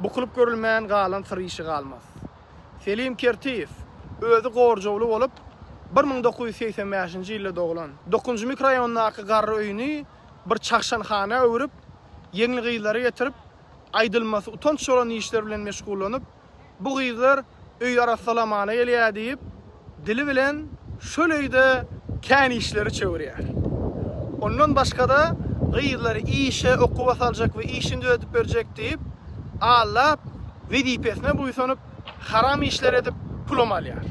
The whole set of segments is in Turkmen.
Bukulyp görülmän galan syr işi galmaz. Selim Kertiýew, özi gorjawly bolup, bir müň dokuz ýüz segsen bäşinji ýylda doglan. Dokuzynjy mikroraýondaky garry öýüni bir çagşanhana öwrüp, ýeňli gyzlary getirip, aýdylmasy utanç bolan işler bilen meşgullanyp, bu gyzlar öýi arassalamana gelýär diýip, dili bilen şol öýde kän işleri çöwürýär. Ondan başga-da, gyzlary işe, okuwa saljak we işini düzedip berjek diýip, aldap, wezipesine buýsanyp, haram işler edip, pulam alýar.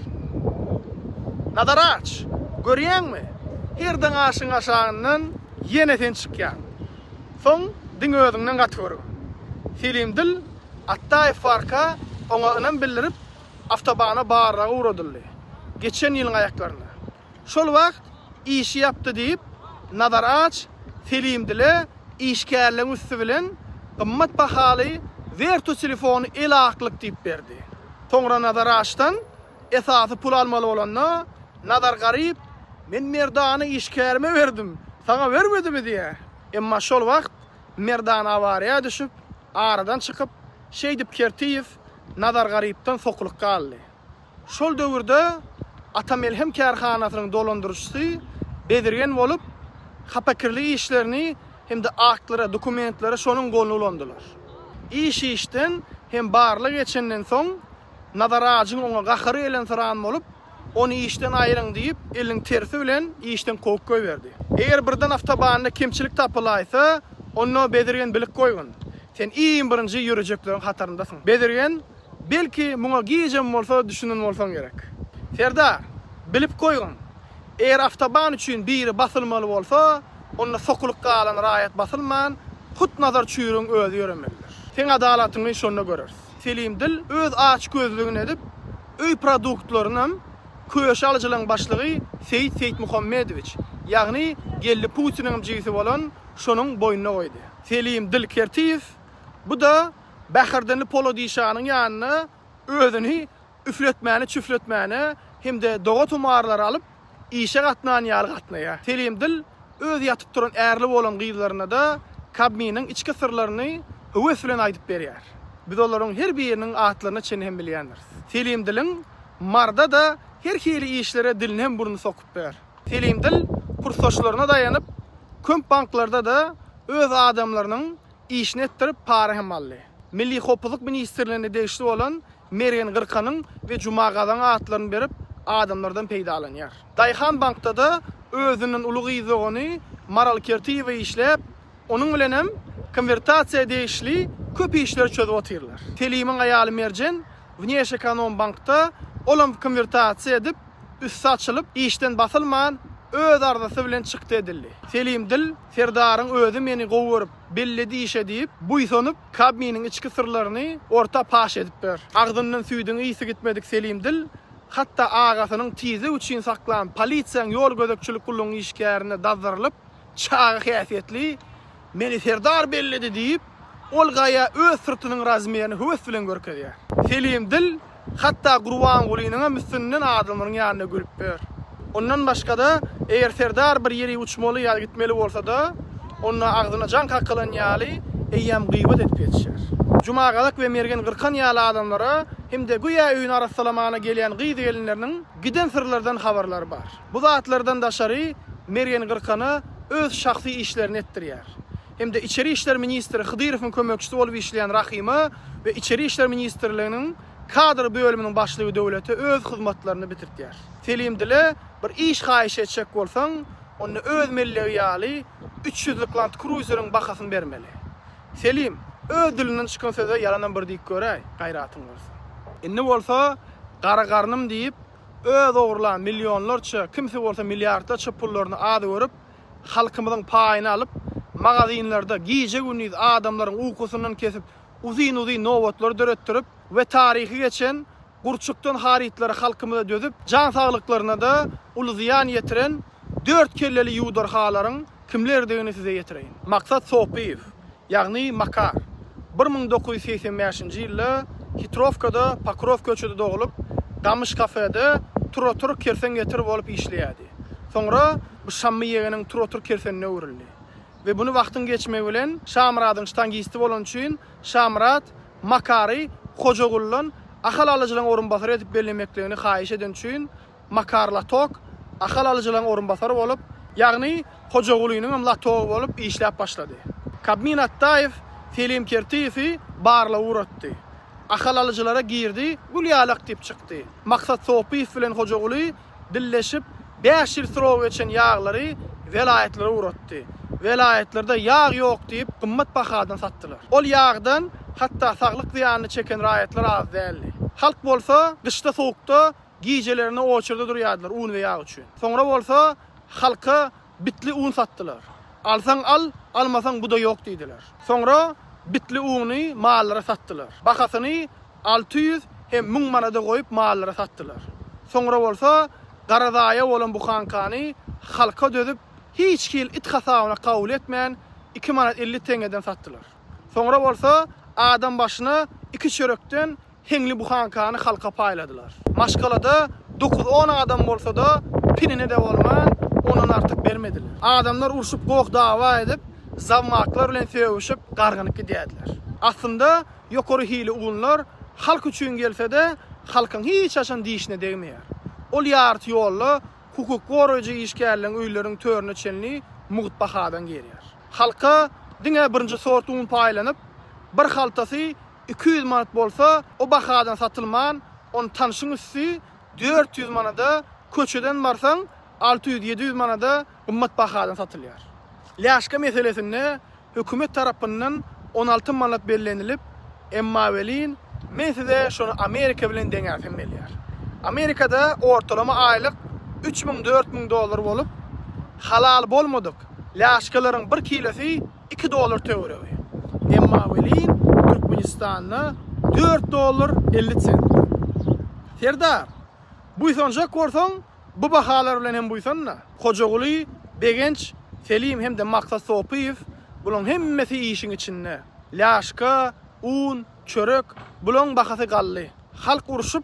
Nazar aç! Görýäňmi? Her daň aşygyň aşagyndan ýene sen çykýaň. Soň diňe özüňden gaty görgün. Selim dil Atdaýew barka oňa ynam bildirip, Awtobana barlag ugradyldy. Geçen ýylyň aýaklarynda. Şol wagt işi ýapdy diýip, Nazar Aç Selimdile işgärleň üsti bilen gymmat bahaly Vertu telefony el-aklyk diýip berdi. Soňra Nazar Açdan esasy pul almaly bolanda, Nazar Garyp, Men Merdany işgärime berdim, saňa bermedimi diýýär. Emma şol wagt Merdan awariýa düşüp, Aradan çykyp, şeýdip Kertiýew Nazar Garypdan sokulyk galdy. Şol döwürde Atamelhem kärhanasynyň dolandyryjysy bezirgen bolup, hapakirli işlerini hem-de aktlara, dokumentlere şonuň goluny ulandylar. Iş işden hem barlyk geçenden soň Nazar ajyň oňa gahary gelensyran bolup, Ony işden aýryň diýip, eliniň tersi bilen işden kowup goýberdi. Eger birden awtobanda kemçilik tapylaýsa, onda Bezirgen bilip goýgun, sen iň birinji ýörejekleriň hataryndasyň. Bezirgen, Belki, muňa gijem bolsa düşünen bolsaň gerek. Serdar, Bilip goýgun, eger awtoban üçin biri basylmaly bolsa, onda sokulyk galan raýat basylman, hut Nazar çüýrügiň özi ýöremelidir. Seň adalatyňy şonda göreris. Selim Dil öz açgözlügini edip, öý produktlarynam Köşe alyjylaryň başlygy Seýit Seýitmuhammedowiç, ýagny Geldi Putiniňem jigisi bolan şonuň boýnuna goýdy. Selim Dil Kertiýew bu-da Bäherdenli Polodişanyň ýanynda özüni üfletmäni, çüfletmäni hem-de doga-tomarlary alyp, işe gatnan ýaly gatnaýar. Telim dil öz ýatyp turan ärli bolan gyzlaryna-da Kabminiň içki syrlaryny höwes bilen aýdyp berýär. Biz olaryň her biriniň atlaryna çenli hem bilýändiris. Telim diliň Marda-da her hili işlere dilini hem burnuny sokup biler. Telim dil kursdaşlaryna daýanyp, köp banklarda-da öz adamlarynyň işini etdirip, para hem aldy. Milli howpsuzlyk ministrligine degişli bolan Mergen Gyrkanyň we Juma Gazaň atlaryny berip, adamlardan peýdalanýar. Daýhan bankda-da özünden uly gyz dogany Maral Kertiýewa işläp, onuň bilen hem konwertasiýa degişli köp işleri çözüp otyrlar. Selimiň aýaly Merjen Wneşekonombankda, ol hem konwertasiýa edip, üsti açylyp, işden basylman, öz arzasy bilen çykdy edildi. Selim dil. Serdaryň özi meni gowy görüp, belli diýişe diýip, buýsanyp, Kabminiň içki syrlaryny orta paş edipdir. Agzyndan süýdüň ysy gitmedik Selim dil, hatda agasynyň tizlik üçin saklan polisiýaň ýol gözegçilik gullugyň işgärine dazdyrylyp, çaga häsiýetli, Meni Serdar belledi diýip, ol gaýa öz syrtynyň razmerini höwes bilen görkezýär. Selim dil, hatda Gurbangulynyňam üstünden adamlaryň ýanynda gülüp ýör. Ondan başga-da, eger Serdar bir ýeri uçmaly ýa-da gitmeli bolsa-da, onda agzyna jaň kakylan ýaly, eýýäm gyýbat edip ýetişýär. Jumagazak we Mergen Gyrkan ýaly adamlara hem-de göýä öýüni arassalamana gelýän gyz-gelinleriniň giden syrlardan habarlary bar. Bu zatlardan daşary Mergen Gyrkana öz şahsy işlerini etdirýär. hem-de Içeri işler ministri Hydyrowyň kömekçisi bolup işleýän Rahyma we Içeri işler ministrliginiň kadr bölüminiň başlygy Döwlete öz hyzmatlaryny bitirtýär. Selim dile bir iş haýyş etjek bolsaň, onda öz mellegi ýaly üç ýüzlük Land Cruiser-iň bahasyny bermeli. Selim, öz dilinden çykan söze ýalanam bir diýip göräý, gaýratyň bolsa. Indi bolsa, gara garnym diýip, öz ogurlan millionlarça, kimsi bolsa milliardlarça pullaryny az görüp, halkymyzyň paýyny alyp, magazinlerde gije-gündiz adamlaryň ukusyndan kesip, uzyn-uzyn nobatlar döretdirip we taryhy geçen gurçukdan harytlary halkymyza dözüp, jan saglyklaryna-da uly zyýan ýetiren dört kelleli ýuwdarhalaryň kimlerdigini size ýetireýin. Maksat Sopyýew, Ýagny Makar. Bir müň dokuz ýüz segsen bäşinji ýylda Hitrowkada, Pokrow köçede doglup, Gamyş kafede tur-otur kersen getir bolup işleýärdi. Soňra bu Şammy ýegeniň tur-otur kersenine öwrüldi. We buny wagtyň geçmegi bilen Şamyradyň ştangisti bolany üçin Şamyrat Makary Hojaguldan Ahal alyjylaryň orunbasary edip bellemekligini haýyş edeni üçin Makar Latok Ahal alyjylaryň orunbasary bolup, ýagny Hojagulynyň hem latogy bolup işläp başlady. Kabmin Atdaýew Selim Kertiýewi barlaga ugratdy. Ahal alyjylara girdi, gül ýalak diýip çykdy. Maksat Sopyýew bilen Hojaguly dilleşip, bäş ýyl srogy geçen ýaglary welaýatlara ugratdy. Welaýatlarda ýag ýok diýip, gymmat bahadan satdylar. Ol ýagdan hatda saglyk zyýanyny çeken raýatlar az däldi. Halk bolsa gyşda sowukda Gijelerine oçerda durýardylar un we ýag üçin. Soňra bolsa halka bitli un satdylar. Alsaň al, almasaň bu-da ýok diýdiler. Soňra bitli uny mallara satdylar. Bahasyny alty ýüz hem müň manada goýup mallara satdylar. Soňra bolsa gara zaýa bolan buhankany halka dözüp, hiç hili it hasabyna kabul etmän, iki manat elli teňňeden satdylar. Soňra bolsa adam başyna iki çörekden Heňli buhankany halka paýladylar. Maşgalada dokuz-on adam bolsa-da, pinine-de bolman, ondan artyk bermediler. Adamlar urşup, goh-dawa edip, zawmaklar bilen sögüşip, gargynyp gidýärdiler. Aslynda, ýokary hili unlar halk üçin gelse-de, halkyň hiç haçan dişine degmeýär. Ol ýarty ýolda hukuk goraýjy işgärleriň öýleriniň törüne çenli mugt bahadan gelýär. Halka diňe birinji sort un paýlanyp, bir haltasy iki ýüz manat bolsa, o bahadan satylman, ony tanşyň üsti dört ýüz manada, köçeden barsaň, alty ýüz, ýedi ýüz manada gymmat bahadan satylýar. Lýaşka meselesinde hökümet tarapyndan on alty manat bellenilip, emma welin, men size şony Amerika bilen deňäsim gelýär. Amerikada ortalama aýlyk üç müň, dört müň dollar bolup, halal bolmadyk lýaşkalaryň bir kilosy Iki dollar töweregi. Emma welin Türkmenistanda dört dollar elli sent. Serdar, buýsanjak bolsaň, bu bahalar bilen hem buýsan-da. Hojaguly, Begenç, Selim hem-de Maksat Sopyýew, bulaň hemmesi işiň içinde. Lýaşka, un, çörek, bulaň bahasy gally. Halk urşup,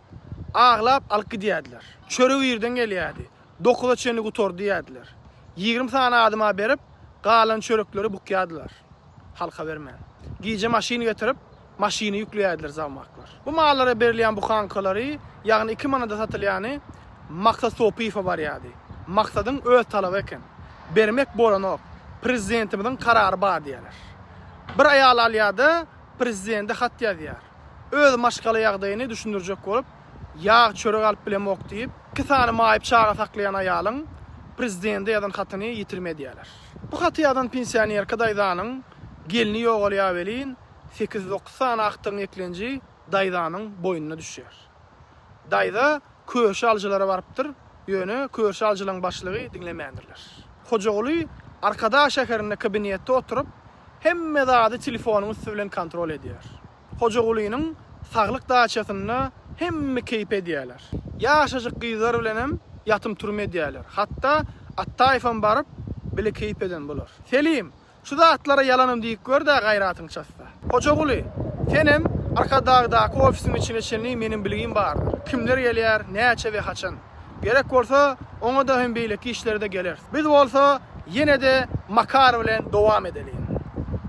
aglap alyp gidýärdiler. Çörek irden gelýärdi. Dokuza çenli gutardy diýýärdiler. Ýigrimi sany adama berip, galan çörekleri bukýardylar. Halka bermän. Gije maşyn getirip, maşyny ýükleýärdiler zagmaklar. Bu mallara berilýän buhankalary, ýagny iki manada satylýany Maksat Sopyýewe barýardy. Maksadyň öz talaby eken. Bermek bolanok. Prezidentimiziň karary bar diýýärler. Bir aýal alýar-da, prezidende hat ýazýar. Öz maşgala ýagdaýyny düşündirjek bolup, Ýag, çörek alyp bilemok diýip, iki sany maýyp çaga saklaýan aýalyň prezidende ýazan hatyny ýitirim edýärler. Bu haty ýazan pensionerka daýzanyň gelni ýogalýar welin, sekiz-dokuz sany agtygyň eklenji daýzanyň boýnuna düşýär. Daýza köşe alyjylara barypdyr, ýöne köşe alyjylaryň başlygy diňlemändirler. Hojaguly Arkadag şäherinde kabinetde oturyp, hemme zady telefonyň üsti bilen kontrol edýär. Hojagulynyň saglyk daçasynda hemme keýp edýärler. Ýaşajyk gyzlar bilenem ýatym-turym edýärler. Hatda Atdaýewem baryp, bile keýp eden bolar. Selim, şu zatlara ýalanam diýip gör-dä gaýratyň çatsa. Hojaguly, senem Arkadagdaky ofisiň içine çenli meniň bilgim bardyr. Kimler gelýär, näçe we haçan? Gerek bolsa, oňa-da hem beýleki işlere-de geleris. Biz bolsa ýene-de Makar bilen dowam edeliň.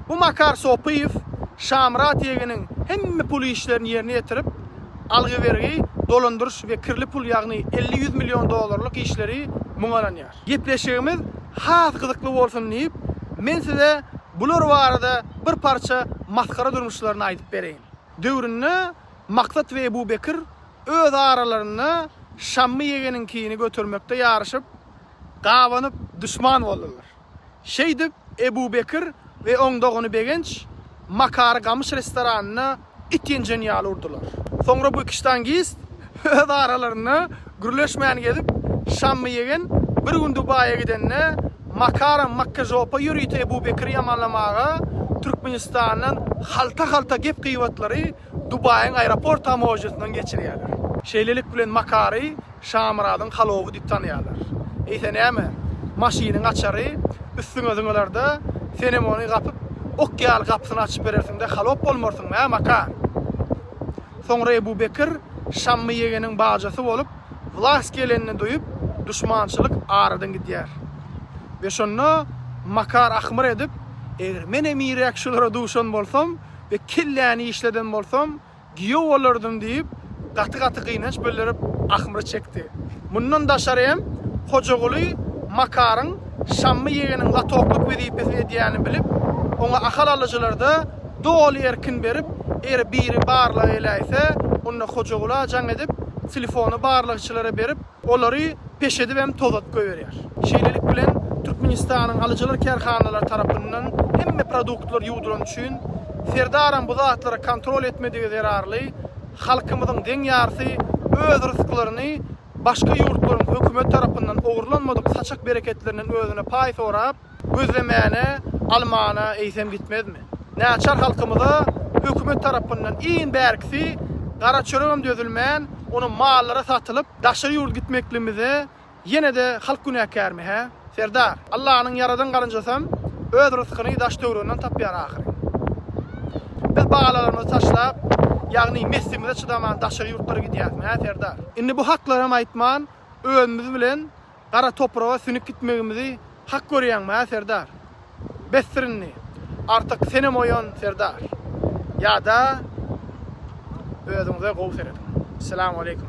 Bu Makar Sopyýew Şamyrat ýegeniň hemme pul işlerini ýerine ýetirip, algy-bergi, dolandyryş we kirli pul ýagny elli-ýüz million dollarlyk işleri muňa ynanýar. Gepleşigimiz has gyzykly bolsun diýip, men size bular barada bir parça masgara durmuşlaryny aýdyp bereýin. Döwründe Maksat we Ebu Bekir öz aralarynda Şammy ýegeniňkini götermekde ýaryşyp, gabanyp, duşman boldular. Şeýdip, Ebu Bekir we oň dogany Begenç Makary gamyş restoranynda it ýenjen ýaly urdular. Soňra bu iki ştangist öz aralarynda gürleşmän gezip, Şammy ýegen bir gün Dubaýa gidende, Makaram makkažopa ýörite Ebu Bekiri ýamanlamaga Türkmenistandan halta-halta gep-gybatlary Dubaýyň aeroport tamožnýasyndan geçirýärler. Şeýlelik bilen Makary Şamyradyň halowy diýip tanýarlar. Eýse näme, maşynyň açary üstüňe zyňylarda, senem ony gapyp, ok ýaly gapysyny açyp berersiň-de halop bolmarsyňmy, hä, Makar? Soňra Ebu Bekir Şammy ýegeniň bajasy bolup, wlas gelenini duýup, duşmançylyk aradan gidýär. We şonda Makar ahmyr edip, Eger men emirek şulara duşan bolsam, we kelläni işleden bolsam, giýew bolardym diýip, gaty-gaty gynanç bildirip, ahmyr çekdi. Mundan daşary hem Hojaguly Makaryň Şammy ýegeniň latoklyk wezipesini edýänini bilip, oňa ahal alyjylarda doly erkin berip, eger biri barlag eläýse, onda Hojaguly ajaň edip, telefony barlagçylara berip, olary peş edip hem tozadyp goýberýär. Şeýlelik bilen, Türkmenistanyň alyjylar kärhanalary tarapyndan hemme produktlar ýuwdurany üçin, Serdaram bu zatlary kontrol etmedigi zerarly, halkymyzyň deň ýarsy öz rysklaryny başga ýurtlaryň hökümeti tarapyndan ogurlanmadyk saçak-bereketlerinden özüne paý sorap, Gözlemäne, almana eýsem gitmezmi? Näçär halkymyza hökümet tarapyndan iň bärkisi gara çöregem dözülmän, ony mallara satylyp, daşary ýurda gitmekligimize ýene-de halk günäkärmi, hä? Serdar, Allanyň ýaradan garynjasam öz ryskyny daş-töweregnden tapýar ahyryn. Biz balalarymyzy taşlap, ýagny messimize çydaman daşary ýurtlara gidýäsmi, hä, Serdar? Indi bu haklarym aýtman, özümiz bilen Gara topraga sünüp gitmegimizi hak görýäňmi-hä, serdar? Besdir indi! Artyk senem oýan, serdar! Ýa-da özüňize gowy serediň. Salam aleýkum.